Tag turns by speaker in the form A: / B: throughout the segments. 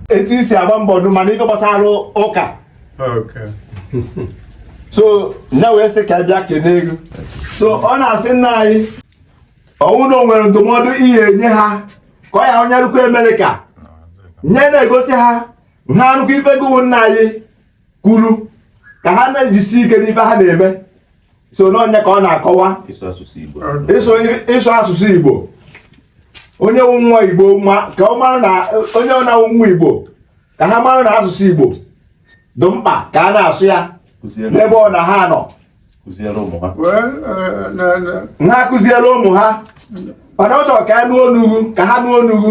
A: etu i si agba mbọ ọdụ ma n'ife gbasara ụka so ya wee sị ka a bịa kene gị so ọ na-asị nna anyị ọ wụ na o nwere ndụmọdụ ị ya-enye ha ka ọ ya anyị rukwa amerịka anyị na-egosi ha ha anụkwa ife gụ wụ nna anyị kwuru ka ha na-ejisi ike n'ife ha na-eme so n'onye ka ọ na-akọwa ịsụ asụsụ Igbo onye wụ nwa Igbo ka ọ mara na onye ọbụna wụ nwa Igbo ka ha mara na asụsụ Igbo dị mkpa ka a na-asụ ya n'ebe ọbụna ha nọ ha kụziere ụmụ ha mana ọ chọrọ ka a nụọ ọnụ ghụ ka ha nụọ ọnụ ghụ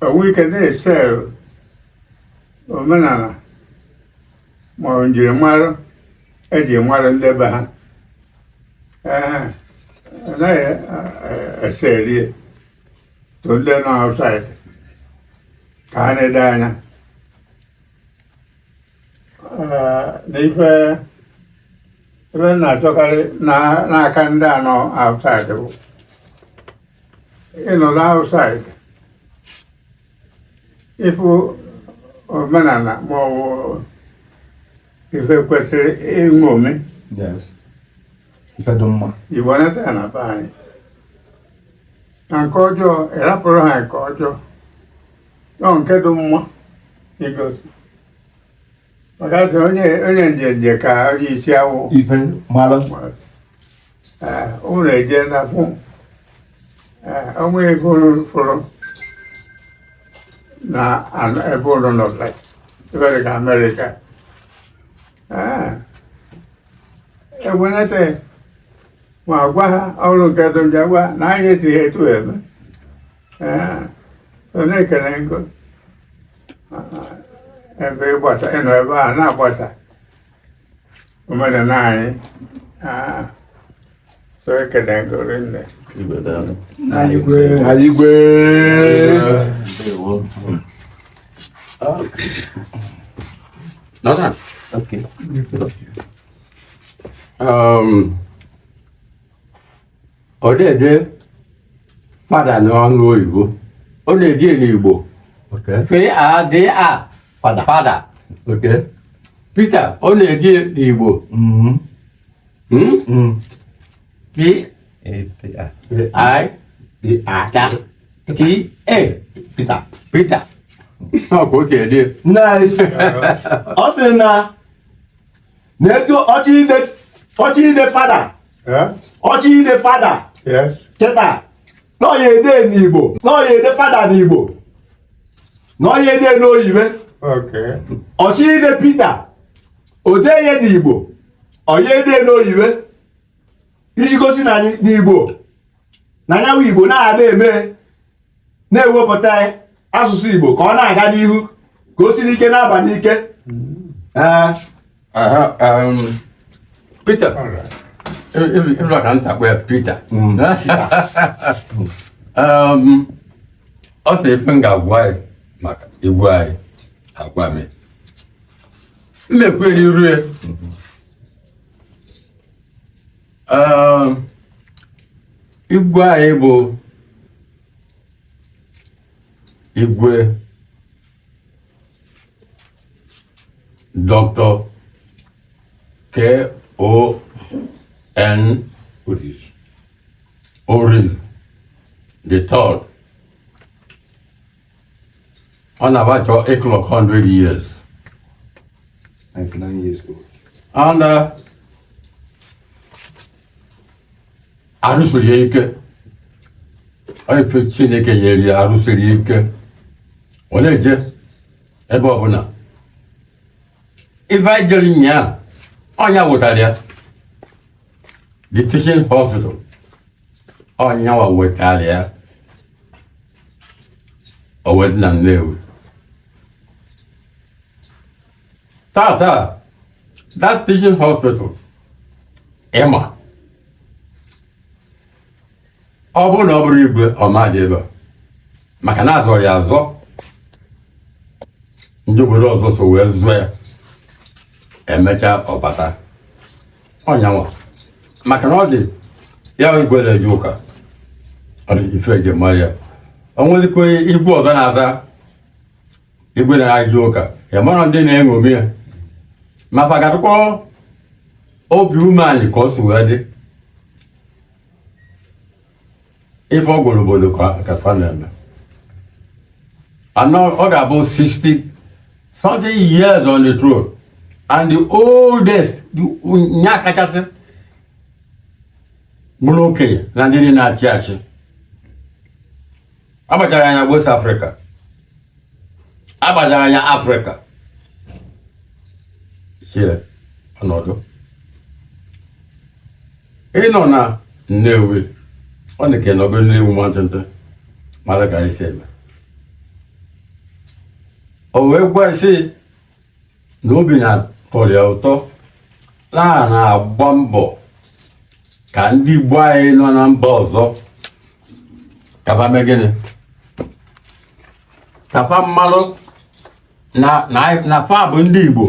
B: o nwee ike na-ese omenala ma ọ njirimara e ji mara ndị be ha ee anaghị ese erie to ndị nọ outside ka ha na-ele anya na ife ebe m na-achọkarị n'aka ndị a nọ outside bụ ị nọdụ outside ị fụ omenala ma ọ bụ ife kwesịrị iṅomi Yes. Ife dị mma. i bunata ya na be anyị na nke ọjọọ ị rapụrụ ha nke ọjọọ ọ nke dị mma i gosi maka na onye onye njenje ka onye isi awọ ife mara. unu eje na fụ o nwee ebe unu fụrụ na ebe unu nọ ebe dị ka amerịka e wenete ma gwa ha ọ bụrụ nke dị njọ gwa na anyị etighị etu eme na-ekele gị ebe ị gbasa ị nọ ebe a na-agbasa omenala anyị so ekele gị rinne igwe
C: Nathan.
D: Okay. Um,
C: ọ na-ede fada n'ọnụ oyibo ọ na-ede ya n'igbo Okay. f a d a Fada. fada Okay.
A: pita
C: ọ na-ede ya n'igbo Mm. hmm? Mm. p Eh, eh, ah. i Eh, ah. t a Peter. pita ọ ka o si ede ya. Nice.
A: Ọ sị na na etu ọ chọọ ide ọ chọọ ide fada ọ chọọ ide fada kịta na ọ ya ede n'igbo na ọ ya ede fada n'igbo na ọ ya ede n'oyibe ọ chọọ ide pita o dee ya n'igbo ọ ya ede n'oyibe iji gosi na anyị n'igbo na anyị bụ igbo na-ada eme na-ewepụta asụsụ igbo ka ọ na-aga n'ihu ka o siri ike na-aba n'ike ee
C: Peter ị fụla ka nta kpọ ya Peter Um, ọ sị ife m ga-agwa anyị maka igwe anyị agwa m ya. m na-ekweri iru ya igwe anyị bụ igwe Doctor K-O-N Orizu the third ọ na-aba chọọ ịclock 100 years 99
A: years old.
C: and uh, arụ siri ya ike ọ ife chineke nyere ya arụ siri ya ike ọ na-eje ebe ọbụla ife anyị jere nyaa ọ nya wetara ya the teaching hospital ọ nyanwa wetara ya o wee dị na Nnewi tata that teaching hospital ị ma ọ bụrụ na ọ bụrọ igwe ọ ma-adị ebe a maka na a zọrọ ya azọ ndị obodo ọzọ so wee zọọ ya emechaa ọ bata ọ nyanwa maka na ọ dị ya igwe na-eje ụka ọ dị ife eji mara ya o nwezikwa igwe ọzọ na-aza igwe na-eje ụka ị mara ndị na-eṅomi ya ma fa ga-adịkwa obi umeanị ka o si wee dị ife ọ gwara obodo ka fa na-eme and ọ ga-abụ 60 something years on the throne and the oldest nya kachasị bụrụ okenye na ndị na-achị achị agbachara anya West Africa agbachara anya Africa sie ọnọdụ ị nọ na nnewi ọ dị ka ị nọgo na nnewi nwantịntị mara ka anyị si eme o wee gwa sị na obi na-atọrọ ya ụtọ na a na-agba mbọ ka ndị Igbo anyị nọ na mba ọzọ ka fa mee gịnị ka fa malụ na na na fa bụ ndị Igbo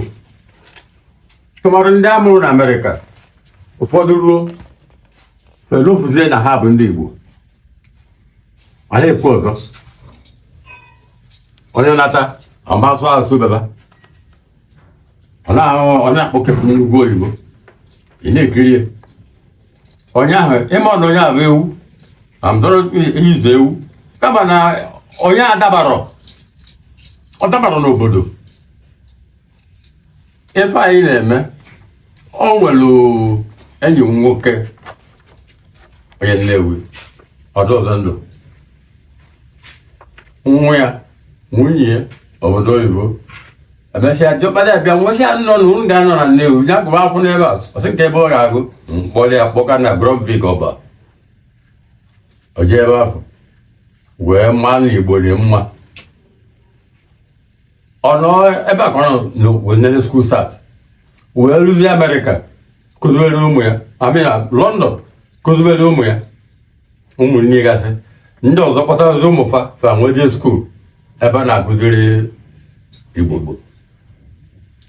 C: tụmadụ ndị a mụrụ na Amerịka ụfọdụ ruo fa elofuzie na ha bụ ndị Igbo a na-ekwu ọzọ onye nata ọ ma sụ asụ baba ọ na-ahụ ọ na-akpọkepụ n'ugwu oyibo ị na-ekiri ya onye ahụ ị ma na onye ahụ bụ ewu amdọrọ izu ewu kama na onye a adabarọ ọ dabarọ n'obodo ife anyị na-eme o nwere enyi m nwoke onye Nnewi ọ sendụ nwa ya nwunye ya obodo oyibo e mesịa dọkpụrụ ya bịa wee sị ya no na unu ga-anọ na Nnewi ya gụba akwụkwọ n'ebe a ọ sị kee ebe ọ ga-agụ m kpọrọ ya kpọga na Grundtvig Ọba o jee ebe ahụ wee maa na Igbo dị mma ọ nọ ebe a ka ọ nọ wee nele school cert wee ruzie Amerịka kụzibere ụmụ ya a mụ na London kụzibere ụmụ ya ụmụnne gasị ndị ọzọ kpọtazi ụmụ fa fa wee je school ebe a na-akụziri Igbo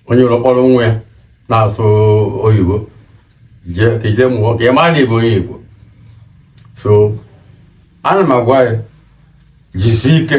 C: onye ụlọ kpọrọ nwa ya na-asụ oyibo ka i je mụọ ka ị mara na ị bụ onye Igbo so ana m agwa ya jisie ike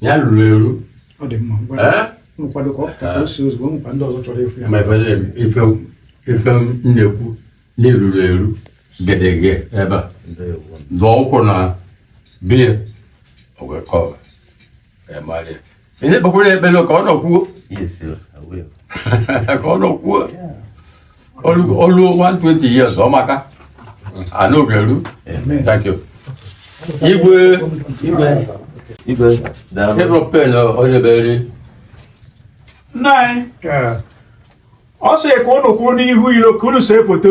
C: ya ruru eru ọ dị mma ngwa ee nkwado ka ọ pụta ka o si ozugbo e nwekwa ndị ọzọ chọrọ ịfụ ya ma ife na- ife ife m na-ekwu na i ruru eru gedege ebe a dụọ ụkwụ na biya ọgwekọba emali ị na-ekpekwara ekpere ka ọ nọkwuo Yes, sir. I
A: will. ka ọ
C: nọkwuo Yeah. o luo 120 years ọ maka anaoge eru thank you igwe igwe igwe ịbụrụ pen onye beri nna
D: anyị ọ sị ka unu kwụọ n'ihu
B: ilo ka
D: unu see foto